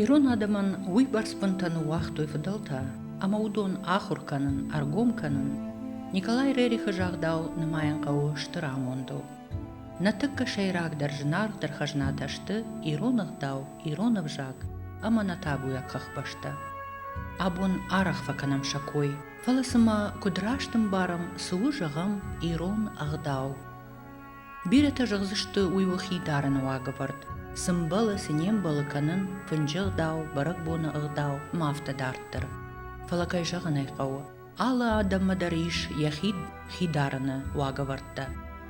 Ирон адӕмӕн уыйбӕрц бынтӕ ныууагътой фыдӕлтӕ, ӕмӕ уыдон ахуыр кӕнын, ӕргом кӕнын Николай Рерихы загъдау нымайын хъӕуы стыр амондыл. Нӕ тыххӕ сӕйрагдӕр зынаргъдӕр хӕзнатӕ сты ирон ӕгъдау, ирон ӕвзаг ӕмӕ нӕ табуйаг хӕхбӕстӕ. Абон арӕх фӕкӕнӕм сӕ кой, фӕлӕ цымӕ куыд раст ӕмбарӕм, цы у зӕгъӕм ирон ӕгъдау? Бирӕтӕ зӕгъдзысты уый уыхи дарыны уагӕвӕрд, цы мбӕлы, цы не мбӕлы кӕнын, фынджы ӕгъдау, бӕрӕгбоны ӕгъдау ӕмӕ афтӕ дарддӕр. Фӕлӕ, кӕй зӕгъын ӕй хъӕуы, алы адӕммӕ дӕр ис йӕхи хи дарыны уагӕвӕрдтӕ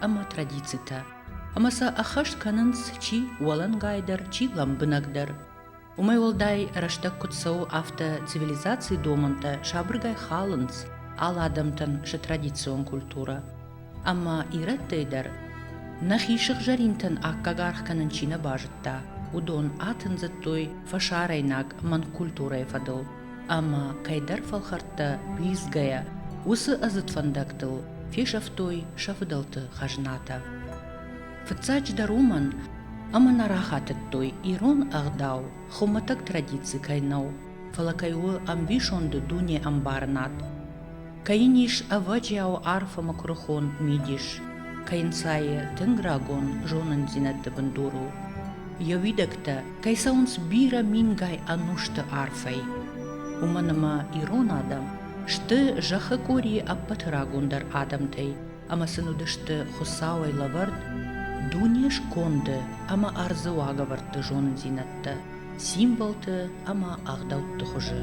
ӕмӕ традицитӕ, ӕмӕ сӕ ӕххӕст кӕнынц чи уӕлӕнгайдӕр, чи лӕмбынӕгдӕр. Уымӕй уӕлдай рӕстӕг куыд цӕуы, афтӕ цивилизацийы домӕнтӕ сабыргай халынц алы адӕмтӕн сӕ традицион культурӕ. Ӕмӕ ирӕттӕй дӕр нӕхи сыгъзӕринтӕн аккаг аргъ кӕнын чи нӕ базыдта, уыдон атындзыдтой фӕсарӕйнаг манкультурӕйы фӕдыл ӕмӕ кӕйдӕр фӕлхӕрттӕ уидзгӕйӕ, уыцы ӕдзыд фӕндӕгтыл фесӕфтой сӕ фыдӕлты хӕзнатӕ. Фыццаджыдӕр уымӕн, ӕмӕ нӕ рахатыдтой, ирон ӕгъдау хуымӕтӕг традици кӕй нӕу, фӕлӕ кӕй у ӕмбисонды дунеӕмбарынад, кӕй йын ис ӕвӕджиау арф ӕмӕ куырыхон мидис, кӕй йын сайы тынг рагон зонындзинӕдты бындурыл йӕ уидӕгтӕ, кӕй цӕуынц бирӕ мингай ӕнусты арфӕй. Уымӕн ӕмӕ ирон адӕм сты зӕххы къорийы ӕппӕты рагондӕр адӕмтӕй, ӕмӕ сын уыдысты Хуыцауӕй лӕвӕрд дуне сконды ӕмӕ ӕрдзы уагӕвӕрдты зонындзинӕдтӕ, символты ӕмӕ ӕгъдӕутты хуызы.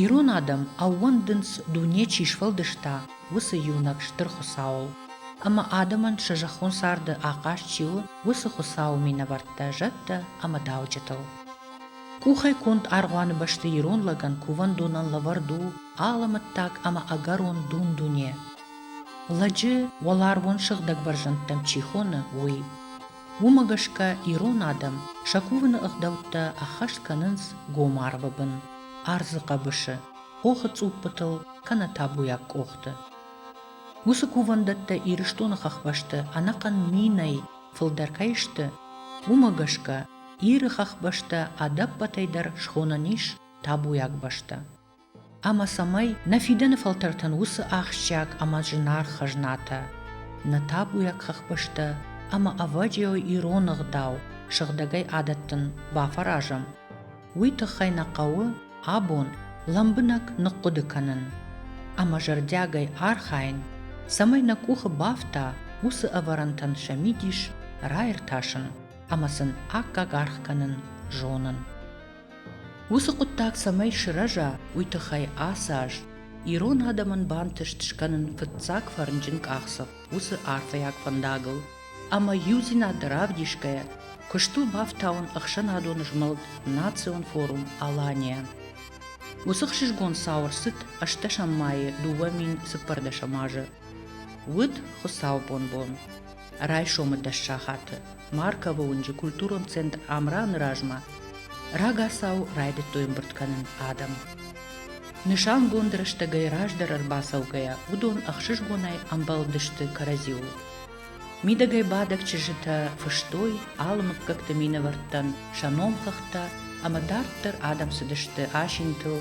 Ирон адӕм ӕууӕндынц, дуне чи сфӕлдыста, уыцы иунӕг стыр Хуыцауыл. Ӕмӕ адӕмӕн сӕ зӕххон царды ахъаз чи у, уыцы Хуыцауы минӕвӕрттӕ, зӕдтӕ ӕмӕ дауджытыл. Къухӕй конд аргъуаны бӕсты ирон лӕгӕн кувӕндонӕн лӕвӕрд у алӕмӕттаг ӕмӕ ӕгӕрон дун-дуне. Лӕджы уӕларвон сыгъдӕг бӕрзӕндтӕм чи хоны, уый. Уымӕ гӕсгӕ ирон адӕм сӕ кувыны ӕгъдӕуттӕ ӕххӕст кӕнынц гом арвы бын, ӕрдзы хъӕбысы, хохы цъуппытыл кӕнӕ табуйаг къохты. Уыцы кувӕндӕттӕ Ирыстоны хӕхбӕсты ӕнӕхъӕн минӕй фылдӕр кӕй сты, уымӕ гӕсгӕ Иры хӕхбӕстӕ ӕдӕппӕтӕй дӕр схонӕн ис табуйаг бӕстӕ. Ӕмӕ цӕмӕй нӕ фидӕны фӕлтӕртӕн уыцы ахсджиаг ӕмӕ зынаргъ хӕзнатӕ, нӕ табуйаг хӕхбӕстӕ ӕмӕ ӕвӕджиауй ирон ӕгъдау сыгъдӕгӕй адӕттын бафӕразӕм, уый тыххӕй нӕ хъӕуы абон лӕмбынӕг ныхъхъуыды кӕнын ӕмӕ зӕрдиагӕй архайын, цӕмӕй нӕ къухы бафта уыцы ӕвӕрӕнтӕн сӕ мидис раиртасын. ӕмӕ сын аккаг аргъ кӕнын зонын. Уыцы хъуыддаг цӕмӕй сырӕза, уый тыххӕй ацы аз ирон адӕмӕн бантыст скӕнын фыццаг фӕрнджын къахдзӕф уыцы арфӕйаг фӕндагыл ӕмӕ иудзинад равдисгӕйӕ куыст у бафтауын ӕхсӕнадон змӕлд Национ форум Алания. Уыцы хсызгон цау ӕрцыд ӕстдӕсӕм майы дыууӕ мин цыппӕрдӕсӕм азы. Уыд хуыцаубон бон. райсомы дӕс сахаты Марковы уынджы культурон центр Амраны размӕ рагацау райдыдтой ӕмбырд кӕнын адӕм. Нысангонд рӕстӕгӕй раздӕр ӕрбацӕугӕйӕ уыдон ӕхсызгонӕй ӕмбӕлдысты кӕрӕдзиуыл. Мидӕгӕй бадӕг чызджытӕ фыстой алы мыггӕгты минӕвӕрттӕн сӕ номхыгъдтӕ ӕмӕ дарддӕр адӕм цыдысты асинтыл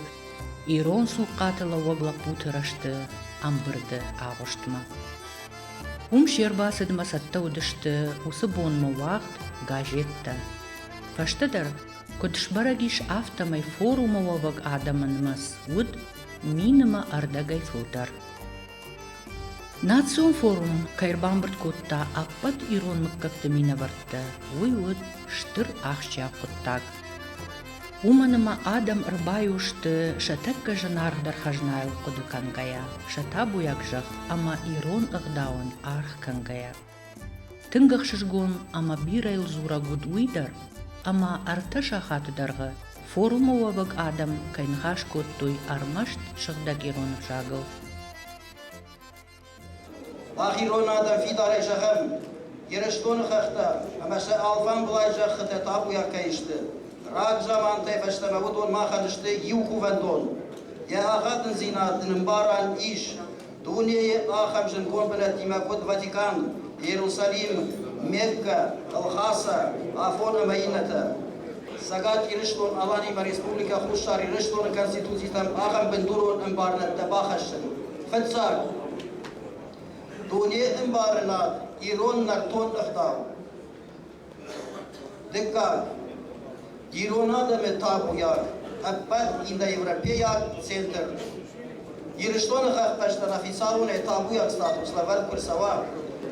ирон цухъхъаты лӕууӕг лӕппуты рӕзты ӕмбырды агъуыстмӕ. Уым се рбацыдмӕ цӕттӕ уыдысты уыцы бонмӕ уагъд газеттӕ. Фӕстӕдӕр, куыд сбӕрӕг ис, афтӕмӕй форумы уӕвӕг адӕмы нымӕц уыд минимӕ ӕрдӕгӕй фылдӕр. Национ форум кӕй ӕрбамбырд кодта ӕппӕт ирон мыггӕгты минӕвӕрттӕ, уый уыд стыр ахсджиаг хъуыддаг. уымӕн ӕмӕ адӕм ӕрбайо сты сӕ тӕккӕ зынаргъдӕр хӕзнайыл хъуыды кӕнгӕйӕ, сӕ табуйаг зӕхх ӕмӕ ирон ӕгъдауӕн аргъ кӕнгӕйӕ. Тынг ӕхсызгон ӕмӕ бирӕйыл дзурӕг уыд уый дӕр, ӕмӕ ӕртӕ сахаты дӕргъы форумы уӕвӕг адӕм кӕй ныхас кодтой ӕрмӕст сыгъдӕг ирон ӕвзагыл. Мах ирон адӕм фидарӕй зӕгъӕм Ирыстоны хӕхтӕ ӕмӕ сӕ алфамбылай зӕххытӕ табуйаг кӕй сты. Рагзамантӕй фӕстӕмӕ уыдон махӕн сты иу кувӕндон. Йӕ ӕгадындзинад нын ӕмбарӕн ис. Дунейы ахӕм зынгон бынӕттимӕ куыд Ватикан, Иерусалим, Мекка, Лхаса, Афон ӕмӕ иннӕтӕ. Цӕгат Ирыстон-Аланимӕ Республикӕ Хуссар Ирыстоны Конституцитӕм ахӕм бындурон ӕмбарынӕдтӕ бахӕссын, Фыццаг, дуне ӕмбарынад ирон нӕртон ӕгъдау. Дыккаг, ирон адӕмы табуйаг, ӕппӕт индоевропейаг центр. Ирыстоны хӕхтӕстӕн официалонӕй табуйаг статус лӕвӕрд куы рцӕуа,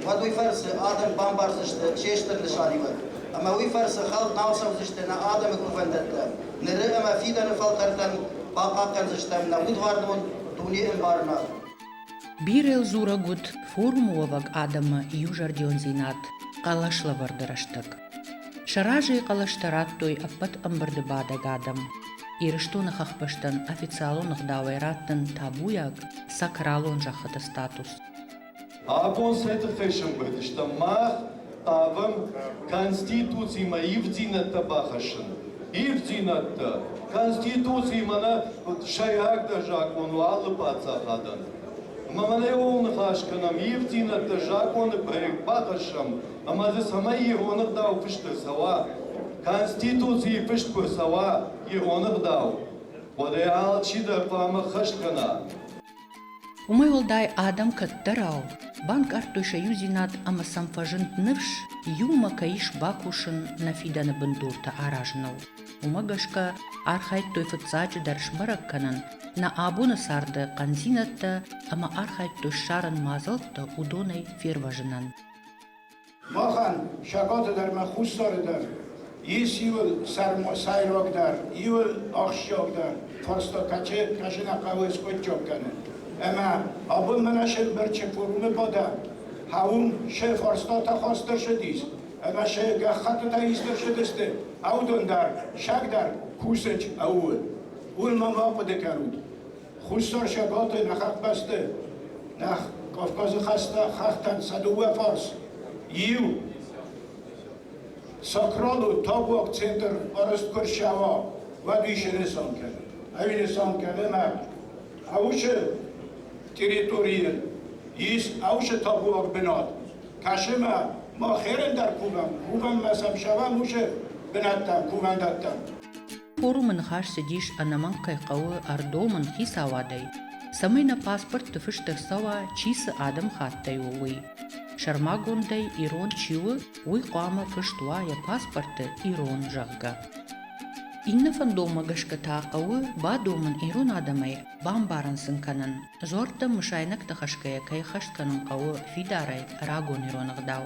уӕд уый фӕрцы адӕм бамбардзысты се стыр нысаниуӕг, ӕмӕ уый фӕрцы хӕлд нал цӕудзысты нӕ адӕмы кувӕндӕттӕ, ныры ӕмӕ фидӕны фӕлтӕртӕн бахъахъхъӕндзыстӕм нӕ удвӕрнон дуне ӕмбарынад. Бирӕ дзурӕг уыд форумы уӕвӕг адӕмы иузӕрдиондзинад хъӕлӕслӕвӕрды рӕстӕг. Сӕ разыйы хъӕлӕстӕ радтой ӕппӕт ӕмбырды бадӕг адӕм. Ирыстоны хӕхбӕстӕн официалон ӕгъдауӕй раттын табуйаг сакралон зӕххыты статус. Абон цӕты фӕсымбырд мах хъавӕм Конституцимӕ ивддзинӕдтӕ бахӕссын. Ивддзинӕдтӕ Конституциимӕ нӕ сӕйрагдӕр закъон у алы паддзахадӕн. Ӕмӕ мӕнӕ ууыл ныхас кӕнӕм, ивддзинӕдтӕ законы проект бахӕссӕм ӕмӕ дзы цӕмӕй ирон ӕгъдау фыст ӕрцӕуа, Конституцийы фыст куы ӕрцӕуа ирон ӕгъдау, уӕдӕй алчидӕр хъуамӕ ӕххӕст кӕна. Уымӕй уӕлдай адӕм кӕддӕрау банкъардтой сӕ иудзинад ӕмӕ сӕм фӕзынд ныфс, иумӕ кӕй ис бакусын нӕ фидӕны бындуртӕ аразыныл. Уымӕ гӕсгӕ архайдтой фыццаджыдӕр сбӕрӕг кӕнын нӕ абоны царды хъӕндзинӕдтӕ ӕмӕ архайдтой ссарын мадзӕлттӕ уыдонӕй фервӕзынӕн. Махӕн, сакъаты дӕр ӕмӕ хуссары дӕр, ис иуыл сӕйрагдӕр, иуыл ахсджиагдӕр фарста, кӕцы кӕсын хъӕуы скъуыдджаг кӕнын. Ӕмӕ абон мӕнӕ се мбырчы форумы бадӕ хауым се фарстатӕ хаста шыдис, ӕмӕ се гӕххӕттытӕ исты шыдысты, аудон дӕр, саг дӕр кусӕч ӕууы. Уый ма ма хъуыды кӕнут. Хуссар Сӕбӕлты ныхӕхбӕсты Нӕх Кавказы хӕстӕ хӕхтӕн сӕ дыууӕ фарс иу Сакралы тавуаг центр арӕзт куы рсӕва, уӕд ис нысан кӕны. Ӕви нысан кӕны нӕ Аушы территорийы ис Аушы тавуаг бынат, кӕсы мӕ мах херӕн дӕр кувӕм, кувӕм мӕ сӕм сӕвӕм ушы бынӕттӕ кувӕндӕттӕм. Форумы ныхас цыдис ӕнӕмӕнг кӕй хъӕуы ӕрдомын хицауадӕй, цӕмӕй нӕ паспортты фыст ӕрцӕуа, чи цы адӕмыхаттӕй у, уый. Сӕрмагондӕй, ирон чи у, уый хъуамӕ фыст уа йӕ паспорты ирон, зӕгъгӕ. Иннӕ фӕндонмӕ гӕсгӕ та хъӕуы бадомын ирон адӕмӕй, бамбарын сын кӕнын, дзуӕрттӕм мысайнӕгтӕ хӕсгӕйӕ кӕй хӕст кӕнын хъӕуы фидарӕй рагон ирон ӕгъдау.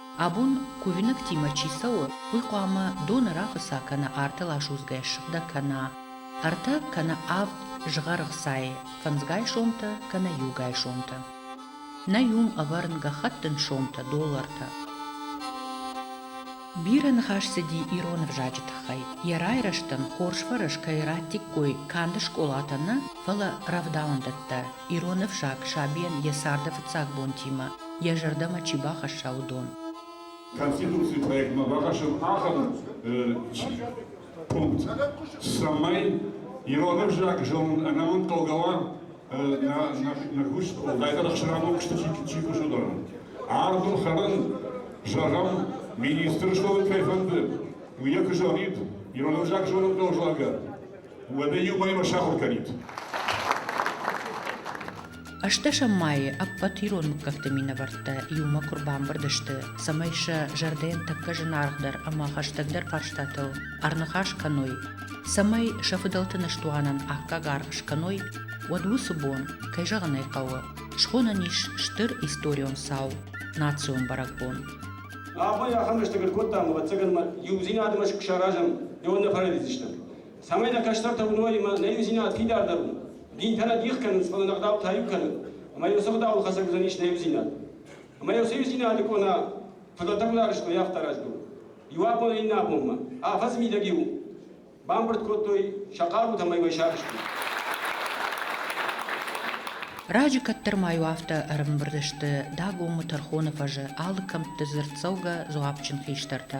Абон кувинӕгтимӕ чи цӕуы, уый хъуамӕ доны рафыца кӕнӕ артыл асудзгӕ ссыгъдӕг кӕна, ӕртӕ кӕнӕ авд згъӕргъ сайы, фӕндзгай сомтӕ кӕнӕ иугай сомтӕ. Нӕ иум ӕвӕрын гӕххӕттын сомтӕ, доллартӕ. Бирӕ ныхас цыди ирон ӕвзаджы тыххӕй. Йӕ райрӕзтӕн хорз фӕрӕз кӕй радтиккой канд скъолатӕ нӕ, фӕлӕ рӕвдауӕндӕттӕ. Ирон ӕфсад сабийӕн йӕ царды фыццаг бонтимӕ йӕ зӕрдӕмӕ чи бахӕсса, уыдон. Конституцийы проектмӕ бахӕссӕм ахӕм пункт, цӕмӕй ирон ӕвзаг зонын ӕнӕмӕнгхъӕугӕ уа нӕ куыст, уӕлдайдӕр ӕхсӕнадон куысты чи кусы, уыдоны. Ардыл хӕрын, зӕгъӕм, министры зонын кӕй фӕнды, уый куы зонид, ирон ӕвзаг зонын хъӕуы, зӕгъгӕ, Уӕдӕ иуӕй-иу сахуыр кӕнид. Ӕстдӕсӕм майы ӕппӕт ирон мыггӕгты минӕвӕрттӕ иумӕ куы рбамбырд сты, цӕмӕй сӕ зӕрдӕйӕн тӕккӕ зынаргъдӕр ӕмӕ хӕстӕгдӕр фарстатыл ӕрныхас кӕной, цӕмӕй сӕ фыдӕлты ныстуанӕн аккаг аргъ скӕной, уӕд уыцы бон, кӕй зӕгъын ӕй хъӕуы, схонӕн ис стыр историон цау, национ бӕрӕгбон. Абон ахӕм рӕстӕг ӕркодтам, ӕвӕццӕгӕн ма иудзинадмӕ саразӕм, ӕви нӕ фӕрӕдидзыстӕм. цӕмӕй нӕ кӕстӕртӕ уыной ӕмӕ нӕ иудзинад фидардӕр у. Динтӕ нӕ дих кӕнынц, фӕлӕ нӕ гъдау та иу кӕны, ӕмӕ иу цы гъдауыл хӕцӕг уыдзӕнис нӕ иудзинад. Ӕмӕ иу цы иудзинады къона фыдӕлтӕ гуылары скъуыйы ӕхта раздон. Иу абон, иннӕ абонмӕ. Афӕдзы мидӕг-иу бамбырд кодтой сӕ хъарутӕ ӕмӕ уӕй сагъыстой. Раджы кӕддӕр ма иу афтӕ ӕрымбырд сты Дагомы тӕрхоны фӕзы алы кӕмтты дзырддзӕугӕ дзуапджын хистӕртӕ.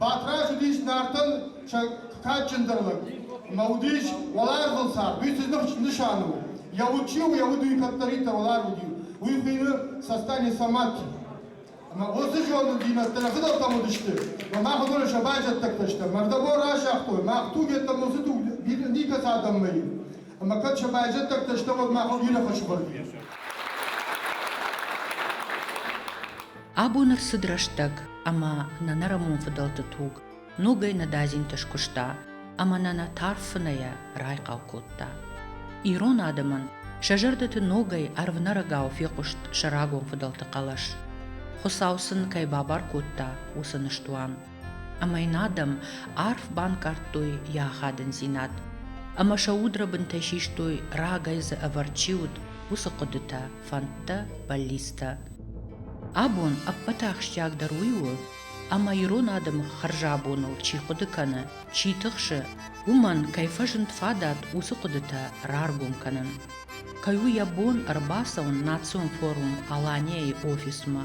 Батрадз уыдис Нартӕн сӕ кадджындӕр лӕг ӕмӕ уыдис уӕларвон цард. Уый цы нысан у? Йӕ уд чи у, йӕ уд уый кӕддӕриддӕр уӕларв уыди, уый хуыйны Састане Саматти. Ӕмӕ уыцы зонындзинӕдтӕ нӕ фыдӕлтӕм уыдысты, ӕмӕ мах уыдоны сӕ байзӕддӕгтӕ стӕм. Мӕрдӕбон разагътой, мах туг йеддӕмӕ уыцы туг никӕцы адӕммӕ и. Ӕмӕ кӕд сӕ байзӕддӕгтӕ стӕм, уӕд мах бирӕ фӕсывӕд и. Абон ӕрцыд рӕстӕг, ӕмӕ нӕ нӕрӕмон фыдӕлты туг ногӕй нӕдадзинты скуыста ӕмӕ нӕ нӕ тарф фынӕйӕ райхъал кодта. Ирон адӕмӕн сӕ зӕрдӕты ногӕй ӕрвнӕрӕгау фехъуыст сӕ рагон фыдӕлты хъӕлӕс. Хуыцау сын кӕй бабар кодта, уыцы ныстуан. Ӕмӕ йын адӕм арф банкъардтой йӕ ахадындзинад, ӕмӕ сӕ удрӕбынтӕ систой, рагӕй дзы ӕвӕрд чи уыд, уыцы хъуыдытӕ, фӕндтӕ, бӕллицтӕ. Абон ӕппӕт ахсджиагдӕр уый у, ӕмӕ ирон адӕмы хӕрзӕбоныл чи хъуыды кӕны, чи тыхсы, уымӕн кӕй фӕзынд фадат уыцы хъуыдытӕ раргом кӕнын. Кӕй у йӕ бон ӕрбацӕуын национ форум Алания-йы офисмӕ